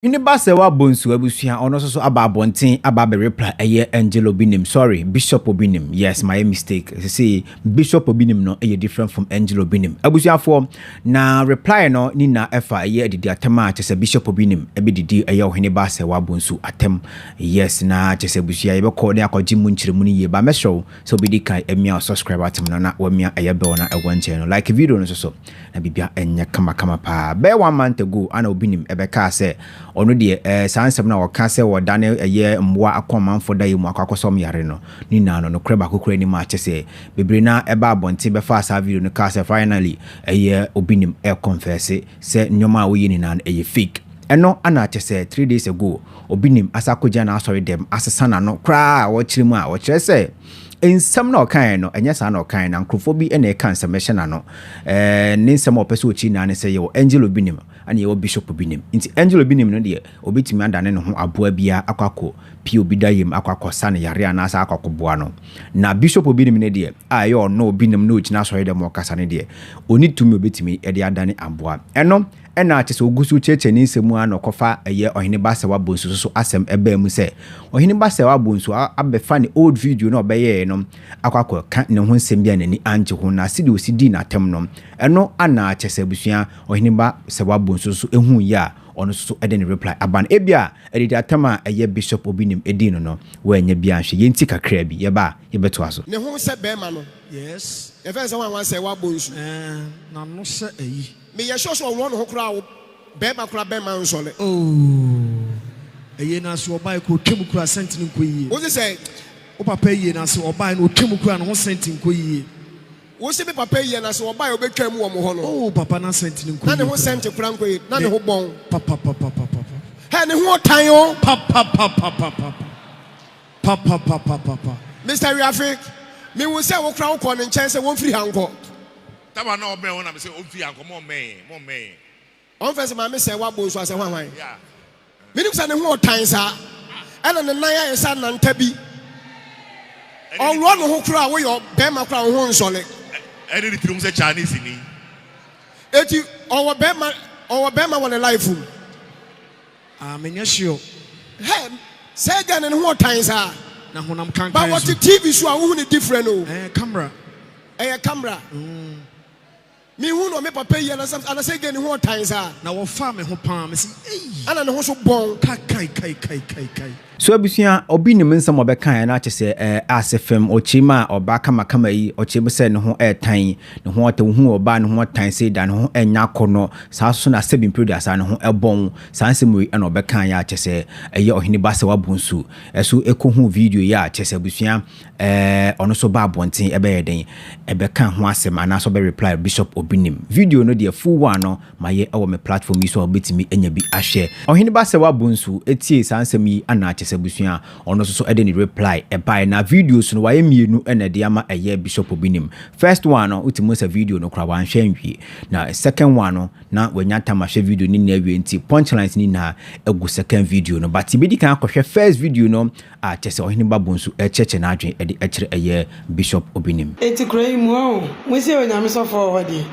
Hwene ba sɛ wabɔ nsu abusua ɔno nso so aba abɔnten aba abɛrepla ɛyɛ angel obi nim sorry bishop obi nim yes my mistake sisi bishop obi nim no ɛyɛ different from angel obi nim abusuafoɔ Na reply no ne nyinaa ɛfa ɛyɛ adidi atɛm a kyɛsɛ bishop bi nim ɛbɛdidi ɛyɛ ɔhene ba sɛ wabo nsu atɛm yes na kyɛsɛ abusua yɛbɛkɔ ne akɔ gye mu nkyerɛmu no yie ba mɛsrɛ wo sɛ obɛdi kan amia wo subscribe button no na wamia ɛyɛ bell na ɛwɔ nkyɛn no like video no nso so na biribia ɛnyɛ kama kama paa bɛyɛ one month ago ana obi nim ɛbɛkaa sɛ ɔno deɛ ɛɛ saa nsɛm na ɔka sɛ ɔdane ɛyɛ mmoa akɔ amanfo da yɛ mu akɔ akɔsɔm yare no ne nyinaa no nokorɛ baako kura nim a kyɛsɛ bebree no ara baa abɔnten bɛfaa saa video no kaa sɛ finally ɛyɛ obi nim ɛrekɔnfɛse sɛ nneɛma a woyɛ nyinaa no ɛyɛ fake. Ɛno na kyɛ sɛ three days ago obi nim asa akɔgyina n'asɔre dɛm asesa n'ano koraa a ɔrekyerɛ mu a ɔkyerɛ sɛ nsɛm no a ɔkaeɛ no ɛnyɛ saa na ɔkaeɛ na nkurɔfoɔ bi na ɛka nsɛm ɛhyɛ n'ano. Ɛɛ ne nsɛm a ɔpɛ sɛ ɔkyiri nyinaa ne sɛ yɛwɔ Angel Obinim ɛna yɛwɔ Bishop Obinim nti Angel Obinim no deɛ Obetumi adane ne ho aboa bi ara akɔ akɔpia obi da yam akɔ akɔsa no yare anaasɛ akɔ akɔboa no. Na bishop binom no deɛ, a ɛyɛ ɔno ɔbinom na ɔgyina asɔredɔm mu ɔkasa no deɛ, ɔnni tumi a ɔbɛtumi de adane aboa. Ɛno na kyerɛ sɛ ɔgu so rekyerɛkyerɛ ne nsɛm mu ara na ɔkɔfa ɛyɛ Ɔhene Basawa Bonsu nso so asɛm baa mu sɛ Ɔhene Basawa Bonsu abɛfa ne old video no a ɔbɛyɛeɛ no akɔ akɔka ne ho nsɛm bi a n'ani angye ho na sɛdeɛ ɔsi dii n'atɛm no ɛno na kyerɛ sɛ abusua Ɔhene Basawa Bonsu nso huu yea ɔno nso so de ne reply aba no ebia adidi atam a ɛyɛ bishop obi nim edii no no wannya bi anhwɛ yɛn nti kakraa bi yɛba a yɛbɛtoa so. Ne ho sɛ bɛɛma no. Yes. Yɛfrɛ no sɛ wan wan sɛ wa bɔ nsu. Ɛɛn n'ano sɛ ayi. Me yɛ sure sɛ ɔwɔ ne ho koraa wo bɛɛma koraa bɛɛma nsɔle. Ooh ɛyie no ase ɔbae kɔ otwa mu koraa sɛnti no nkɔ yie. Wo se sɛ. Wo papa ɛyie no ase ɔbae no otwa mu koraa ne ho sɛnti nkɔ yie. Wo se me papa yi yɛ na se wɔbae a wɔbɛtwaa mu wɔ mo hɔ no. Oh papa n'asɛnti no nkɔ yie koraa. Na ne ho sɛnte koraa nkɔ yie, na ne ho bɔn. Papapapapapa. Hɛ ne ho ɔtan o. Papapapapapa. Papapapapapa. Mister Wiafe, me hu sɛ wo koraa wo kɔɔ ne nkyɛn sɛ wɔnfiri ha nkɔ. Taba na ɔbɛn hɔ na me se ɔnfiri ha nkɔ, mo mmɛn yɛn, mo mmɛn yɛn. Ɔmfrɛ sɛ maame sɛɛ wabɔ nsu asɛ hwahwan. Menim sɛ ne ho ɔtan saa ɛna ne nan ayɛ sɛ ananta bi. Ɔworɔ ne ho koraa woyɛ bɛrima koraa wo ho nsɔle. Ɛne ne tirim sɛ Chinese ni. Eti ɔwɔ bɛrima ɔwɔ bɛrima wɔ ne life mu. Ah me nyɛ sure. Hɛ sɛɛ gɛɛ no ne ho ɔtan saa. Na honam kankan so. Ba wɔte TV so a wohu ne different o. Ɛɛ camera. Ɛyɛ camera. Mm. Me hu no me papa yi anasɛ anasɛ gɛ ne ho ɔtan saa. Na wɔ faa me ho paa me se ei. Ana ne ho so bɔn. Ka kai kai kai kai kai. So abusua obi nim nsɛm ɔbɛkaeɛ na akyɛ sɛ ɛɛ ase fem ɔkyeem a ɔbaa kama kama yi ɔkyeem sɛ ne ho ɛɛtan yi ne ho ɔtɛ wohuu ɔbaa ne ho ɔtan sei da ne ho ɛnyɛ akɔnɔ saa nso na sɛbi mprɛ duasaa ne ho ɛbɔn saa nsɛm wei ɛna ɔbɛkaeɛ a kyɛ sɛ ɛyɛ ɔhene ba sɛ wabu nsu ɛso ɛkɔ hu video yi a kyɛ sɛ abusua Ɛɛ ɔno nso ba abɔnten ɛbɛyɛ dɛn ɛbɛka ho asɛm anaasɛ ɔbɛ reply Bishop Obinim? Video no deɛ full one no mayɛ ɛwɔ me platform yi so a wobɛtumi anya bi ahwɛ. Ɔhene ba sɛ wabɔ nsu ɛtiee saa nsɛm yi anaa kyɛ sɛ abusua a ɔno nso so ɛde ne reply ɛbaeɛ na videos no wayɛ mmienu na ɛde ama ɛyɛ Bishop Obinim. First one no wotumi hu sɛ video no koraa wanhwɛ anwie na second one no na wanya time ahwɛ video no nyinaa awie nti punchlines no nyinaa ɛgu second video no but yɛbɛdi kan akɔhwɛ first video no a kyerɛ sɛ ɔhene ba bo nso rekyerɛkyerɛ n'adwene de kyerɛ ɛyɛ Bishop Obinim. Enti kuro yi mu oo, mosie Onyame sɔfoɔ wɔ hɔ deɛ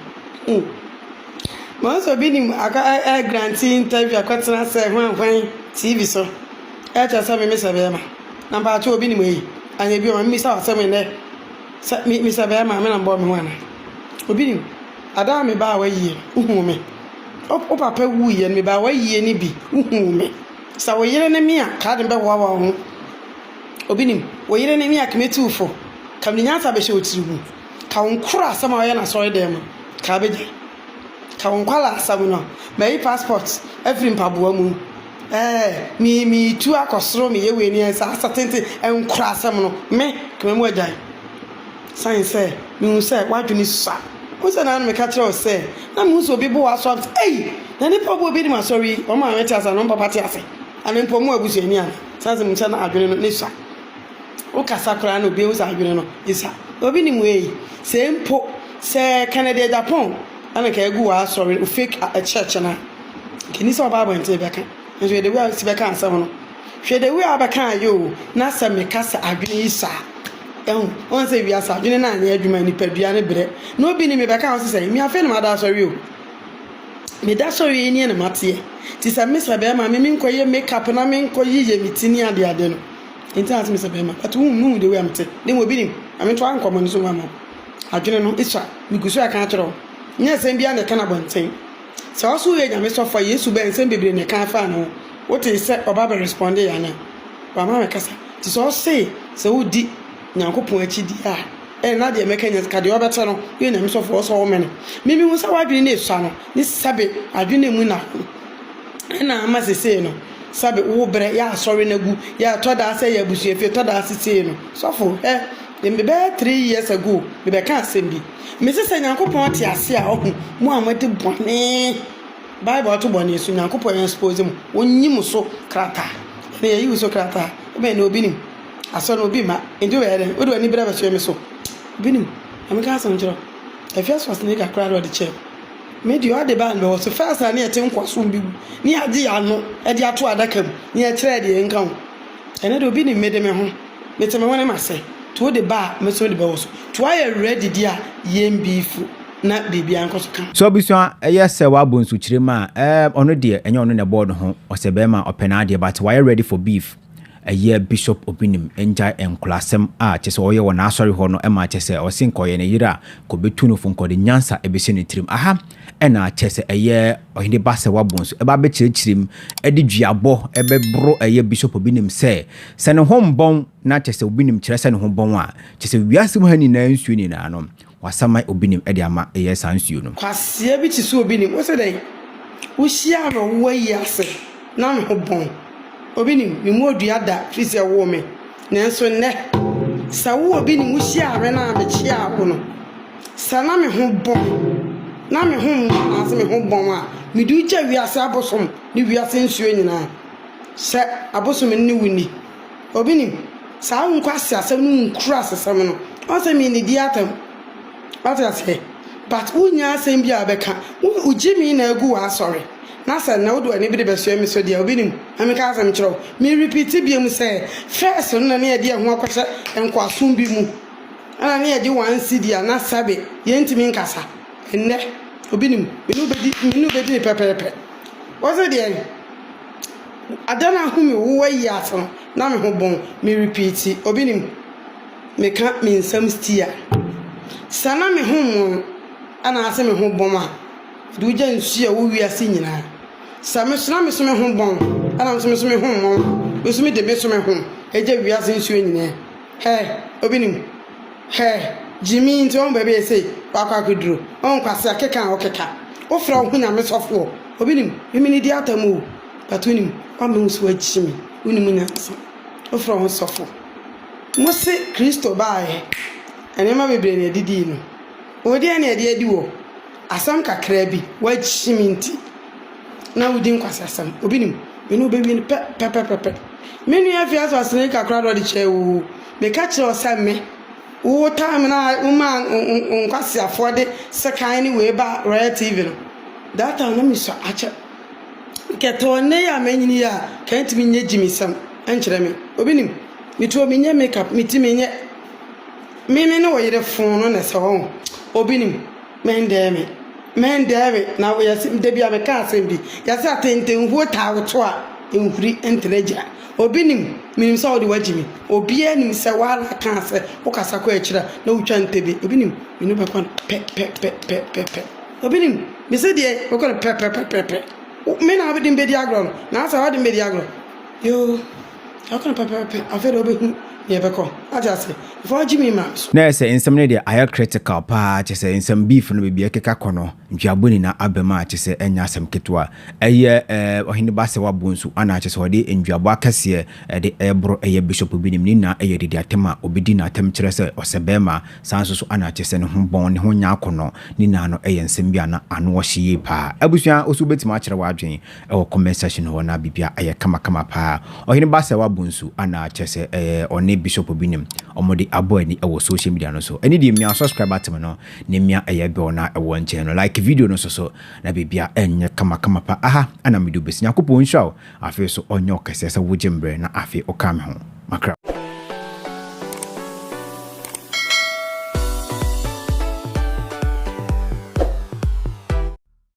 hmm. Mahu sɛ Obinim akɔ ɛ grante interview akɔtena sɛ hwan hwan TV so ɛkyerɛ sɛ me mesɛ bɛɛma. Na mpaakye Obinim ei, anyɛ bio ma me bisa wo asɛm nnɛ, sɛ me mesɛ bɛɛma a me na mbɔɔ me ho anaa? Obinim, ada a me baa w'ayie no, wo huu me? Wo papa wuiɛ no me baa w'ayie no bi, wo huu me? Sɛ wo yere ne me a, ka ade bɛhoahoa wo ho. Obi nim? Wo yere ne me a, ka mɛti wo fɔ. Ka mede nyansa bɛhyɛ wo tiri mu. Ka wo nkora asɛm a woyɛ no asɔre dan mu a, ka bɛgyae. Ka wo nkwadaa asɛm no a, mayi passport afiri mpaboa mu. Ɛɛ, me, meretu akɔ soro, meyɛ wei ne, saa asatenten nkora asɛm no, me, ka memu agyae. Siane sɛ mehu sɛ w'adwene sua. Wohu sɛ na na meka kyerɛ wo sɛ na mehu sɛ obi bo wo asɔ ase. Ei! Na nnipa a wɔbɔ obi anim asɔre yi, wɔn maame te ase anaa wɔn papa te ase? Anaa mpo wɔn abusuani anaa? Siane sɛ mehu sɛ na adwene no sua. Wokasa koraa na obi ahu sɛ adwene no sua. Obi nim wo ei! Sɛ mpo sɛ Kennedy Agyapong na anka agu w'asɔre, wo fake a, church no a, anka enni sɛ wobaa abɔnten bɛka. Nanso hwɛ the way a wusi bɛkaa asɛm no. Hwɛ the way a wobɛkaeɛ o! Na sɛ meka sɛ adwene yi sua a. Ɛhu wɔn sɛ wiase adwene no anyɛ adwuma nipadua no brɛ na obi ne me bɛka wɔn sɛ me afei na mada asɔre o meda asɔre yi nie na mateɛ ti sɛ me sɛ bɛrima me menkɔ yɛ make up na menkɔ yiyɛ me ti ne ade ade no nti na sɛ me sɛ bɛrima but wohu no de wei amte ne mu obi nim ame to ankɔ mo ne so wɔn ama adwene no ɛsua me gu so ɛka akyerɛ wɔn nyɛ sɛm biara na ɛka na bɔnten Sɛ ɔso yɛ Nyame sɔfo a Yesu bɛɛ nsɛm bebree na ɛkaa faa ne ho. Wotee sɛ ɔba bɛ respondee ana? Wama me kasa. Nti sɛ ɔsee sɛ wodi Nyankopɔn akyi deɛ a, ɛne na deɛ mɛka nyɛ ka deɛ ɔbɛte no, woyɛ Nyame sɔfo a ɔsɔ womene. Me mehu sɛ wadwene no esua no ne sɛbe adwene no emu na ho ɛna ama sesei no sɛbe wo brɛ yɛ asɔre no agu yɛ ɛtɔ daa sɛ yɛ abusua fie tɔ daa sesei no sɔfo hɛ me bɛyɛ three years ago me bɛka asɛm bi Mese sɛ Nyankopɔn te ase a ɔhu mo a moadi bɔne. Bible to bɔne so Nyankopɔn expose mo, ɔnyi mo so krataa. Ɛnna yɛyi wo so krataa. Wobɛn no obi nim. Asɔ no obi mma. Nti wobɛyɛ dɛn? Wode w'ani bere abɛsoɛ me so. Obi nim. Na meka asɛm kyerɛ wo. Ɛfia Schwarzenegger koraa na ɔde kyɛɛ me. Me deɛ ɔde baa no bɛwɔ so. First na ne yɛte nkoasom bi mu. Ne yɛagye yɛn ano de ato adaka mu. Ne yɛkyerɛɛ deɛ ɛnka ho. Ɛnnɛ deɛ obi nim me de me ho. Metse me hwenem ase, to wo de ba a, me so mede bɛwo so, to ayɛ awerɛ adidi a yɛn bi refu na biribiara nkɔ so kama. So abusua yɛ sɛ w'abo nsukyerem a ɛɛm ɔno deɛ ɛnyɛ ɔno na ɛbɔɔ ne ho ɔsɛ bɛɛma ɔpɛ n'adeɛ but wayɛ ready for beef ɛyɛ bishop obinim ngyae nkolasɛm a kyɛsɛ ɔyɛ wɔ n'asɔre hɔ no ɛma kyɛsɛ ɔse nka ɔyɛ ne yere a kɔ bɛtu no fo nka ɔde nyansa ɛbɛsi ne tirim aha Ɛna kyerɛ sɛ ɛyɛ ɔhene ba sɛ wabɔ nsu ɛba abɛkyerɛkyerɛ mu ɛde duabɔ ɛbɛboro ɛyɛ bishop obi nim sɛ sɛ ne ho mbɔn na kyerɛ sɛ obi nim kyerɛ sɛ ne ho bɔn a kyerɛ sɛ wiase mu ha nyinaa nsuo nyinaa no wasaman obi nim ɛde ama ɛyɛ saa nsuo no. Kwasia bi te sɛ obi nim wosɛ dɛn wohyiaa no wowɔ yi ase na ne ho bɔn obi nim me mu odua da firi sɛ ɛwoo me Nanso nnɛ, sɛ wo obi ne mo hyia awɛn a mekyeaa wo no, sɛ na me ho bɔn, na me ho mmɔ anaase me ho bɔn a, mede wo gya wiase abosom ne wiase nsuo nyinaa. Sɛ abosom no ne wo nni. Obi nim? Saa wo nkwaseasɛm no nkurasesɛm no, ɔn sɛ me nnidi atam. Wate aseɛ? But wo nnya asɛm biaa bɛka. Wo, wo gye me na agu w'asɔre. Na sɛ na wode w'ani bi rebɛsoɛ me so deɛ a, obi nim. Na menka asɛm nkyerɛ wo. Me repeati biom sɛ, first no na ne yɛde yɛn ho akɔhyɛ nkoasom bi mu, ɛna ne yɛgye one cedi a na sɛbe yɛntumi nkasa. Nnɛ, obi nim. Me ne wo bɛdi, me ne wo bɛdi no pɛpɛɛpɛ. Wose deɛn? Ada no a ho me wo ayi ase no, na me ho bon. Me repeati, obi nim. Meka me nsɛm stia. Sɛ na me ho mmon anaase me ho bom a, Mede wo gya nsuo a ɛwɔ wiase nyinaa. Sɛ me so na me so me ho bɔn, ɛna me so me so me ho mmɔn, me so mede me so me ho gya wiase nsuo nyinaa. Hɛ, obi nim? Hɛ, gyimii nti wɔn baabi yɛ sei, wakɔ akɔduro. Wɔn kwasea keka a wɔkeka. Wofrɛ wo ho nyame sɔfoɔ. Obi nim? Me mene di atam o, but wonim, woama wo so agyi me, wonim nyansa. Wofrɛ wo ho sɔfo. Mose Kristo baeɛ, nneɛma bebree na ɛdidii no. Wo deɛ na ɛde adi wɔ. Asɛm kakraa bi, w'akyim nti na wodi nkwaseasɛm. Obi nim, me ne wo bɛwie no pɛ, pɛpɛpɛpɛ. Me nua afiase ɔsene kakra na ɔde kyɛɛ oo. Meka kyerɛɛ wo sɛ me, wo taa me na womaa nkwaseafoɔ de sekan ne wei baa Royal TV no. That time na mesua akyɛ. Nkɛtɛ ɔnnɛ yi a manyini yi a, nka ɛntumi nyɛ gyimisɛm nkyerɛ me. Obi nim, me tuo menyɛ makeup, me ti menyɛ. Me me ne wo yere foo no na ɛsɛ hɔ o. Obi nim. Mɛndɛɛ me, mɛndɛɛ me, na yɛse, da bi a meka asɛm bi, yɛse atentenhuo taa wo to a, nhuri ntena agyina. Obi nim, menim sɛ wode wagye me, obiara nim sɛ woara kaa sɛ wokasa kɔ akyiri a na wotwa ntɛbie, obi nim, me ne wo bɛkɔ no pɛpɛpɛpɛpɛ, obi nim, mese deɛ bɛkɔ no pɛpɛpɛpɛpɛ, me na wode me bɛdi agorɔ no, na asɛ wode me bɛdi agorɔ, yoo. Ɔka no pɛpɛɛpɛ, afei deɛ wobɛhu deɛ ɛbɛkɔ. Ate ase? Before ɔgye me ma so. Na ɛsɛ nsɛm no deɛ ayɛ critical paa kyesɛ nsɛm beef no baabi ɛkeka kɔ no ntweabo nyina abam a kyesɛ ɛnyɛ asɛm ketewa ɛyɛ ɛɛ ɔhene basewa bonsu ana kyesɛ ɔde ndweabo akɛseɛ ɛde ɛɛboro ɛyɛ bishop bi nim ne nyina ɛyɛ didi atɛm a ɔbɛdi no atɛm kyerɛ sɛ ɔsɛ bɛɛma saa nso so ana kyesɛ ne ho bɔn ne ho nyɛ akɔnɔ ne nyinaa no ɛyɛ nsɛm bi a na ano ɔhye yie paa abusua wo nso wobɛtumi akyerɛ w'adwen ɛwɔ comment section hɔ na bibia ayɛ kama kama paa ɔhene ba sɛ wabɔ nsu anaa kyerɛ sɛ ɛɛ ɔne bishop bi nim ɔmo de abɔ ani ɛwɔ social media no so ɛne deɛ mia subscribe atem no ne mia ɛyɛ bell na ɛwɔ nkyɛn no like video no so so na bibia ɛnyɛ kama kama pa aha ɛna mede obesi nyankopɔn nhyira wo afei so ɔnyɛ ɔkɛseɛ sɛ wogye mbrɛ na afei ɔka me ho makra.